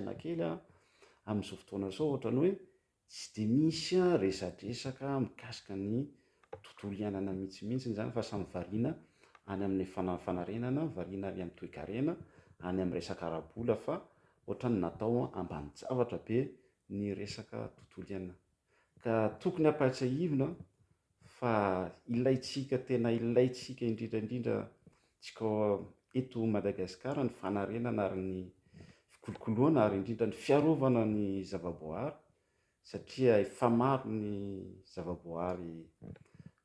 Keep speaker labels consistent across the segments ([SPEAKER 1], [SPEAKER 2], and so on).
[SPEAKER 1] Saina kely aho amin'izao fotoana izao ohatran'ny hoe tsy dia misy resadresaka mikasika ny tontolo iainana mihintsimintsiny izany fa samy variana any amin'ny fanarenana, variana any amin'ny toekarena, any amin'ny resaka ara-bola fa ohatran'ny natao ambanin-javatra be ny resaka tontolo iainana. Ka tokony ampahatsiahivina fa ilaintsika, tena ilaintsika indrindra indrindra tsika eto Madagasikara ny fanarenana ary ny fikolokoloana ary indrindra ny fiarovana ny zavaboahary satria efa maro ny zavaboahary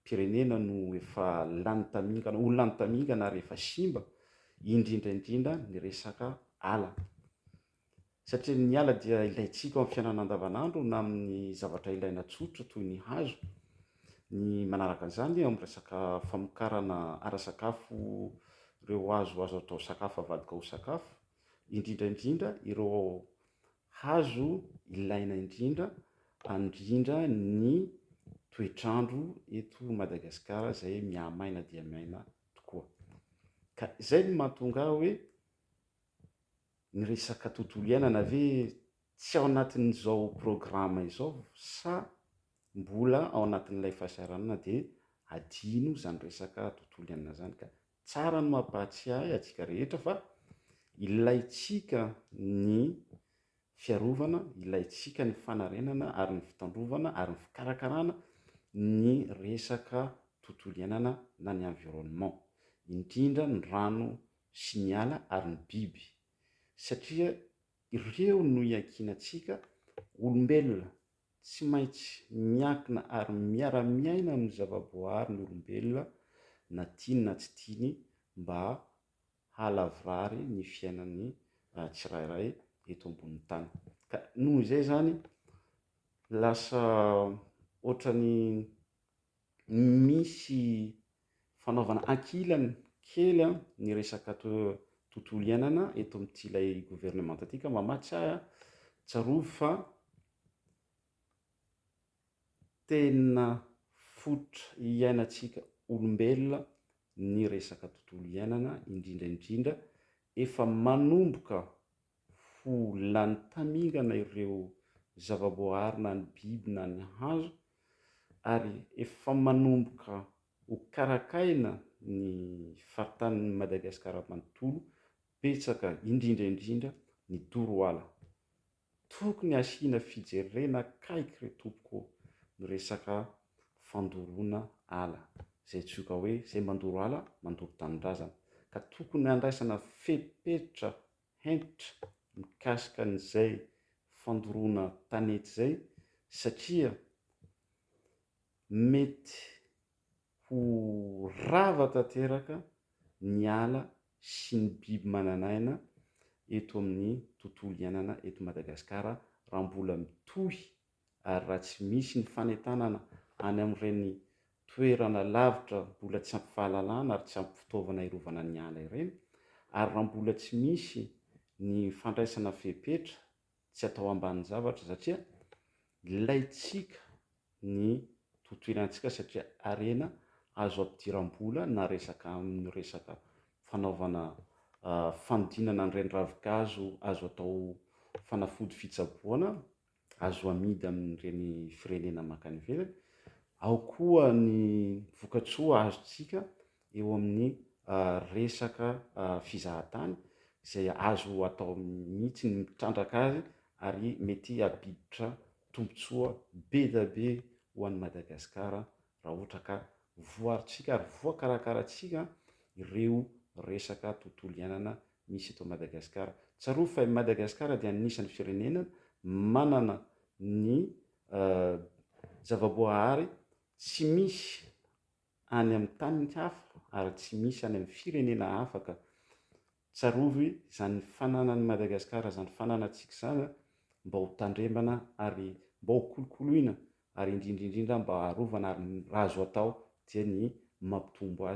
[SPEAKER 1] pirenena no efa lany tamingana, ho lany tamingana ary efa simba indrindra indrindra ny resaka ala. Satria ny ala dia ilaintsika ao amin'ny fiainana andavanandro na amin'ny zavatra ilaina tsotra toy ny hazo. Ny manaraka an'izany eo amin'ny resaka famokarana ara-sakafo ireo hazo azo atao sakafo avadika ho sakafo, indrindra indrindra ireo hazo ilaina indrindra handrindra ny toetr'andro eto Madagasikara izay mihamaina dia maina tokoa. Ka izay no mahatonga ahy hoe. Ny resaka tontolo iainana ve tsy ao anatin'izao programa izao sa mbola ao anatin'ilay fahasahiranana dia adino izany resaka tontolo iainana izany ka. Tsara ny mampahatsiahy antsika rehetra fa ilaintsika ny fiarovana, ilaintsika ny fanarenana ary ny fitandrovana ary ny fikarakarana ny resaka tontolo iainana na ny environnement, indrindra ny rano sy ny ala ary ny biby, satria ireo no iankinantsika olombelona, tsy maintsy miankina ary miara-miaina amin'ny zavaboahary ny olombelona na tiany na tsy tiany mba hahalavorary ny fiainany tsirairay eto ambonin'ny tany. Ka noho izay izany lasa ohatran'ny misy fanaovana ankilany kely ny resaka tontolo iainana eto amin'ity ilay governemanta ity ka mba mahatsiahy aho, tsarovy fa tena fototra iainantsika olombelona ny resaka tontolo iainana indrindra indrindra efa manomboka ho lany tamingana ireo zavaboahary na ny biby na ny hazo ary efa manomboka ho karakaina ny faritanin'i Madagasikara manontolo, betsaka indrindra indrindra ny doro ala. Tokony hasiana fijerena akaiky re tompoko ny resaka fandoroana ala, izay antsoiko hoe izay mandoro ala mandoro tanindrazana ka tokony handraisana fepetra hentitra mikasika an'izay fandoroana tanety izay satria mety ho rava tanteraka ny ala sy ny biby manan'aina eto amin'ny tontolo iainana eto Madagasikara raha mbola mitohy ary raha tsy misy ny fanentanana any amin'ireny toerana lavitra mbola tsy ampy fahalalana ary tsy ampy fitaovana hiarovana ny ala ireny, ary raha mbola tsy misy ny fandraisana fepetra tsy atao ambanin-javatra satria ilaintsika ny tontolo iainantsika satria harena azo ampidiram-bola na resaka amin'ny resaka fanaovana fanodinana an'ireny ravinkazo azo atao fanafody fitsaboana azo amidy amin'ireny firenena mankany ivelany, ao koa ny vokatsoa azontsika eo amin'ny resaka fizahantany izay azo atao mihitsy ny mitrandraka azy ary mety hampiditra tombontsoa be dia be ho an'i Madagasikara raha ohatra ka voarintsika ary voakarakarantsika ireo resaka tontolo iainana misy eto Madagasikara. Tsarovy fa i Madagasikara dia anisan'ny firenena manana ny zavaboahary tsy misy any amin'ny tany hafa ary tsy misy any amin'ny firenena hafa ka. Tsarovy izany fananan'i Madagasikara, izany fananantsika izany an, mba ho tandremana ary mba ho kolokoloina ary indrindra indrindra mba harovana ary raha azo atao dia ny mampitombo azy.